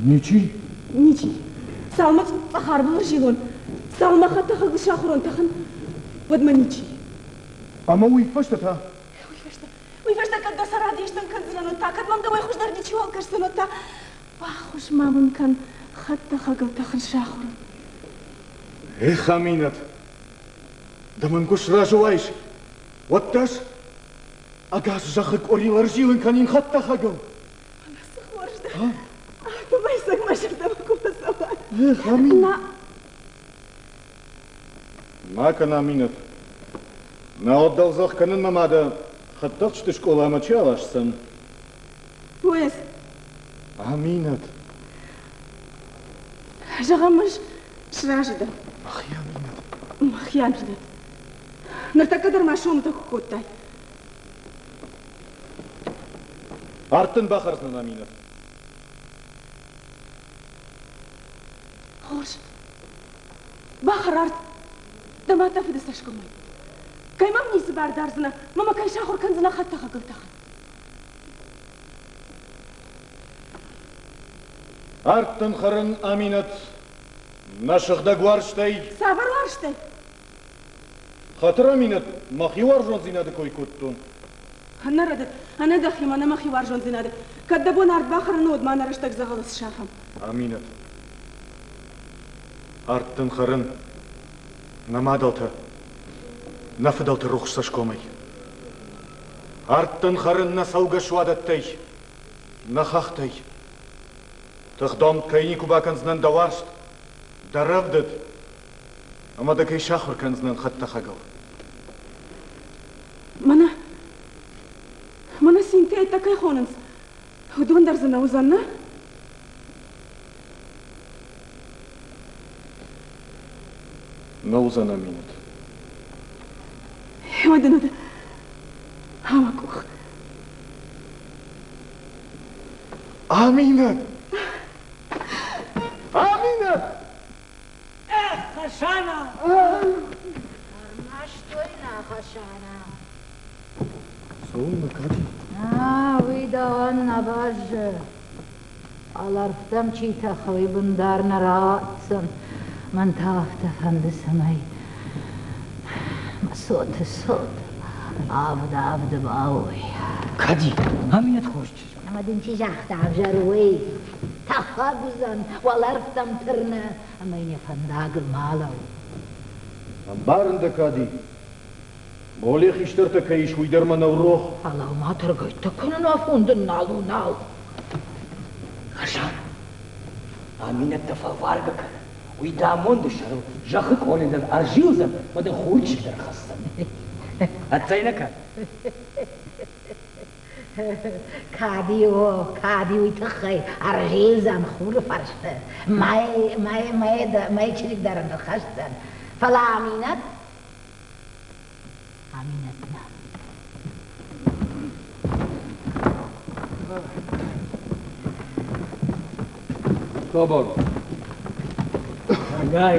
Ничи? Ничи. Сӕумӕ цъӕхар был ӕрзилон, сӕумӕ хӕтӕхӕг сахурон тӕхын, уӕдмӕ ничи. Ӕмӕ уый фӕстӕ та? Уый фӕстӕ? Уый фӕстӕ кӕд дӕ сӕр адӕстӕн кӕндзынӕн, уӕд та? Кӕд мӕм дӕуӕй хуыздӕр ничиуал кӕсдзӕн, уӕд та? Баххуыс-ма мын кӕн хӕдтӕхӕгыл тӕхын сахурын. Эх, Аминӕт! Ды мын куы сразы уаис, уӕд дӕс ӕгас зӕххы къорил ӕрзилын кӕнин хӕдтӕхӕгыл. Цы хорз дӕ. Помайсаг мӕ зӕрдӕмӕ куы фӕцӕуа. Эх, Аминӕ. Ма кӕн, Аминӕт. Мӕуӕт дӕлзӕхх кӕнынмӕ ма дӕ хӕдтӕхджыты скъоламӕ чи аласдзӕн? Поезд. Аминӕт. Зӕгъӕм, ӕз сразы дӕн. Мӕхи Аминӕт. Мӕхи Аминӕт. Ныртӕккӕ дӕр ма сомытӕ куы кодтай. Ард дын бахӕрдзынӕн, Аминӕ. Хорз. Бахӕр ард. Дӕ мӕ тӕфы ды цӕсгомӕй. Кӕй мӕм ницы бар дардзынӕ, мӕ кӕй сахуыр кӕндзынӕ хӕдтӕхӕгыл тӕхын. Ӕрдтын хӕрын, Аминӕт, мӕ сыгъдӕг уарзтӕй. Цавӕр уарзтӕй? Хатыр Аминӕт, мӕхи уарзондзийнади кой кодтон. Нӕ рӕдыд, ӕнӕ дӕхимӕ нӕ мӕхи уарзондзийнади. Кӕд дӕ бон ард бахӕрын, уӕд ма нӕ рӕстӕг дзӕгъӕлы сафӕм. Аминӕт. Ард дын хӕрын. Нӕ мадӕлтӕ, нӕ фыдӕлты рухс цӕсгомӕй. Ард дын хӕрын нӕ цӕугӕ суадӕттӕй, нӕ хӕхтӕй. Тыхдомд кӕй никуы бакӕндзынӕн дӕ уарзт, дӕ рӕвдыд, Ӕмӕ дӕ кӕй сахуыр кӕндзынӕн хӕдтӕхӕгыл? Мӕнӕ... Мӕнӕ синтейтӕ кӕй хонынц, уыдон дӕр дзы нӕ уыдзӕн, нӕ? Нӕ уыдзӕн Аминӕт. Уӕдӕ нуды ама къух. Аминӕ! Аминӕ! Хасана! Ӕрмӕстой нӕ Хасана. Цӕуыл мӕ кади? А, уый дауӕн нӕ бӕззы. Алӕрвтӕм чи тӕхы, уый бын дӕр нӕ ратдзӕн. Мӕн та афтӕ фӕнды, цӕмӕй мӕ цоты цот авд-авд бауой. Кади, ам иннӕт хорз чи Ӕмӕ дын чи загъта, ӕвзӕр уӕй, тӕхӕг уыдзӕн, уӕлӕрвтӕм тырны ӕмӕ йын йӕ фӕндагыл ма лӕу. Ӕмбарын дӕ, Кади. Моле хистӕртӕ кӕй ис, уый дӕр мӕнӕу рох. Фӕлӕу-ма тыргӕйттӕ кӕнын афон дын нал у, нал. Хасан, аминӕттӕ фӕваргӕ кӕн, уый дӕ амонды сӕрыл зӕххы къоле дӕр ӕрзилдзӕн мӕ дӕ хурчик дӕр хӕсдзӕн. Ӕццӕй нӕ кӕн? Кадио, кадиуйы тыххӕй ӕрзилдзӕн хуры фӕрсты. Мӕй, мӕй, мӕй, мӕй чырик дӕр ын хӕсдзӕн. Фӕлӕ Аминӕт? Аминӕт нӕ. Собор. Агай,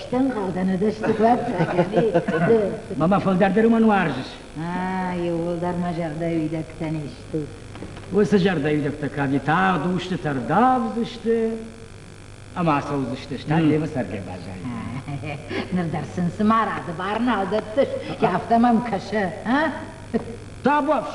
Стӕмболд ӕнӕдӕсты куадта, Мамӕ фылдӕрдӕр уымӕн уарзыс? А, иууылдӕр мӕ зӕрдӕйы уидӕгтӕн исты. Уыцы зӕрдӕйы уидӕгтӕ кӕд тагъд устыты ӕрдавдзысты ӕмӕ ацӕудзысты, стӕй Левы цӕргӕ баззайдзӕн. Ныр дӕр сын цы марады бар нал дӕттыс, афтӕ мӕм кӕсы, а? Табуафс!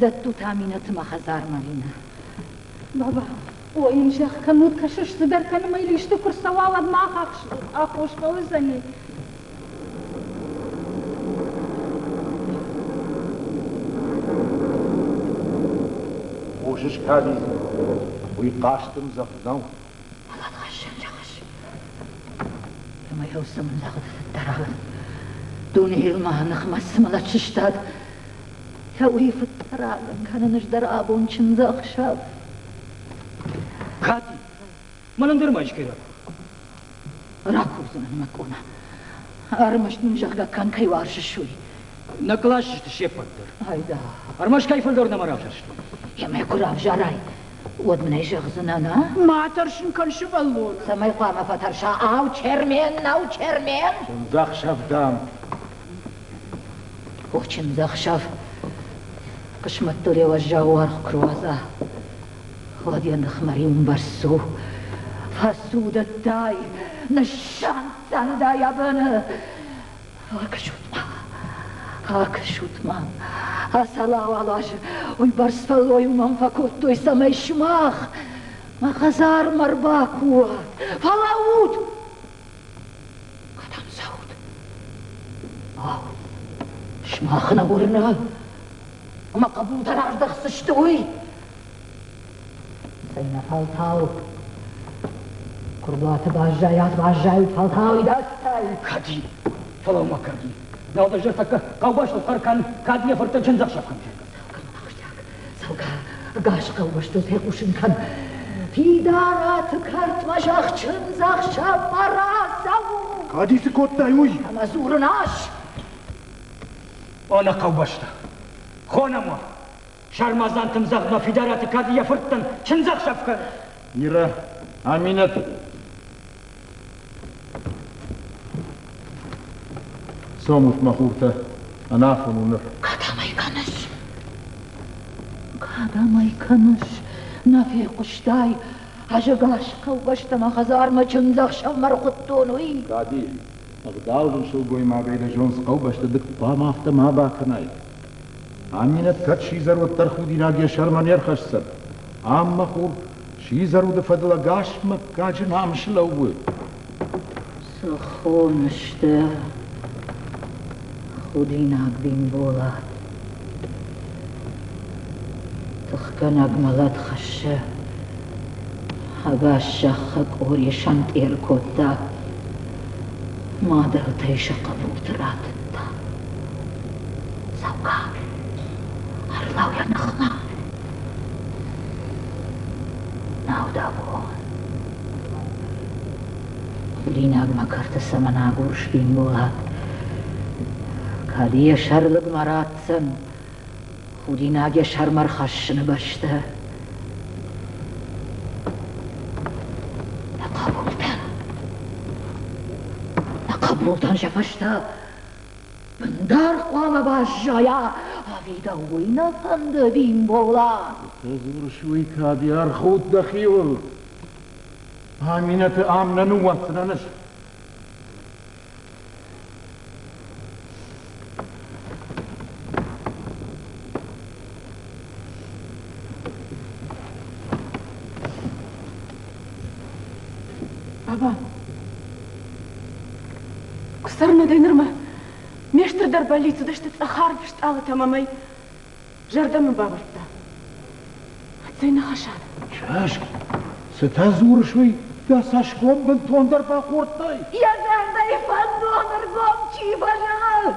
Дӕттут Аминӕты мӕ хӕдзармӕ, Ринӕ. Баба, ой йын зӕгъ, кӕннод кӕсыс, цыдӕр кӕнын мӕй листы куы рцӕуа, уӕд ма ахахс, аххос фӕуыдзӕни. Хъусыс, Кади, уый хъастымдзӕф нӕу. Лӕгъз, лӕгъз. Ӕмӕ йӕ уыцы мын лӕгъз дӕр. Дунейыл мӕ ныхмӕ цы мӕлӕт сыстад, Цӕуй фуддӕр агъан кӕнун ӕз дӕр абон чындзӕхсӕв. Кати, мӕнӕн дӕр ма искӕй ракур. Ракурдзынӕн мӕ къона. Ӕрмӕст мын, зӕгъгӕ, кӕнкӕй уарзы суй. Нӕ класс сты се ппӕт дӕр. Айда. Ӕрмӕст кӕйфӕлдӕр нӕма равзӕрстой. Емӕ куы равзарай, уӕд мын ӕй зӕгъдзынӕн, а? Ма тӕрсын кӕн, сывӕллон. Цӕмӕй хъуамӕ фӕтӕрса? Ау, Чермен, нӕу Чермен? Чындзӕхсӕв, дам, Охчиндзӕхсӕв хъысмӕттурӕ уӕззау уаргъ куы руадза, уӕд йӕ ныхмӕ риумбӕрзт цу. Фӕцудӕдтай, ныссӕнтдзӕндай абоны. Акӕсут-ма, акӕсут-ма, ацал-ауал аз уыйбӕрц фӕллойыл мӕм фӕкодтой, цӕмӕй сымах мӕ хӕдзармӕ ӕрбакуат. Фӕлӕуут! Кӕдӕм цӕут? Ау, сымахмӕ уырна, ӕмӕ хъӕбултӕ раздӕхдзысты, уый? Цӕй, нӕ фӕлтау. Куырдуаты баззайат, баззайут, фӕлтау идӕдзтӕй. Кади, фӕлӕу-ма, Кади. Дӕу дӕр зӕрдӕ кӕ, хъӕубӕстыл хъӕр кӕн, кӕд йӕ фыртӕн чындзӕхсӕв кӕм сӕркӕс. Кӕм ахсджиаг цӕугӕ ӕгас хъӕубӕстыл фехъусын кӕн. Фидараты кӕртмӕ зӕхчындзӕхсӕв ӕрацӕуы. Кӕди цы кодтай, уый? Ӕмӕ дзурын ас! О, нӕ хъӕубӕстӕ! Хонӕм уӕ! Сармадзантым зӕгъ-ма Фидараты кӕд йӕ фырттӕн чындзӕхсӕв кӕны? Мирӕ, Аминӕт! Цомут, мӕ хуртӕ, ӕнафон у ныр. Кӕдӕмӕй кӕныс? Кӕдӕмӕй кӕныс? Нӕ фехъуыстай? Ӕзӕгас хъӕубӕстӕмӕ хӕдзармӕ чындзӕхсӕвмӕ ӕрхуыдтон, уый? Кади, ӕгъдау дын сылгоймагӕй дӕ зондз хъӕубӕсты дык хъуамӕ афтӕ ма бакӕнай. Аминӕт кӕд сидзӕр уӕддӕр худинаг йӕ сӕрмӕ не рхӕсдзӕн. Ам, мӕ хур, Сидзӕр уды фӕдыл ӕгас мыггаджы намыс лӕууы. Цы хоны сты, худинаг Бимбола. Тыхгӕнӕг мӕлӕт хӕссы. Ӕгас зӕххы къорийы сӕнтъер кодта. Мадыртӕй сӕ хъӕбулты ратыдта. Цӕугӕ, ӕрлӕу йӕ ныхмӕ. Наудабон. Линагмӕ кӕрты цӕмӕн агур Швинболат? Кӕд йӕ сӕрлыгмӕ ратдзӕн, худинаг йӕ сӕрмӕ рхӕссыны бӕстӕ? Нӕ хъӕбул дӕн! Нӕ хъӕбул дӕн, зӕвӕстӕ! Бындар хъуамӕ баззайа, ӕви дӕуй нӕ фӕнды Бимболат? Фӕдзурыс-уый кӕд ӕрхуд дӕхиуыл? Аминӕты ам нӕ ныууадздзынӕн ӕз. Ава, куы цӕрынӕ дӕ нырмӕ, ме стырдӕр бӕллиц уыдысты цъӕхарв стъалытӕм ӕмӕ зӕрдӕмӕ бавӕрдта. Цӕй ныхасад? Саски, цытӕ дзурыс, уый дӕ цӕсгом бынтондӕр бахордтай? Йӕ зӕрдӕйы фӕндон ӕргом чи баззад,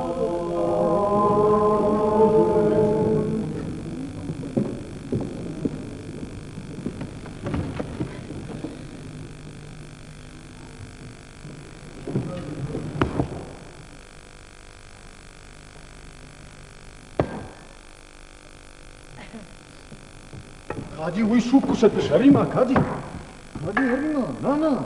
Кади уый суг куы сӕ дысӕримӕ, кади? Кади, Ермина, нана!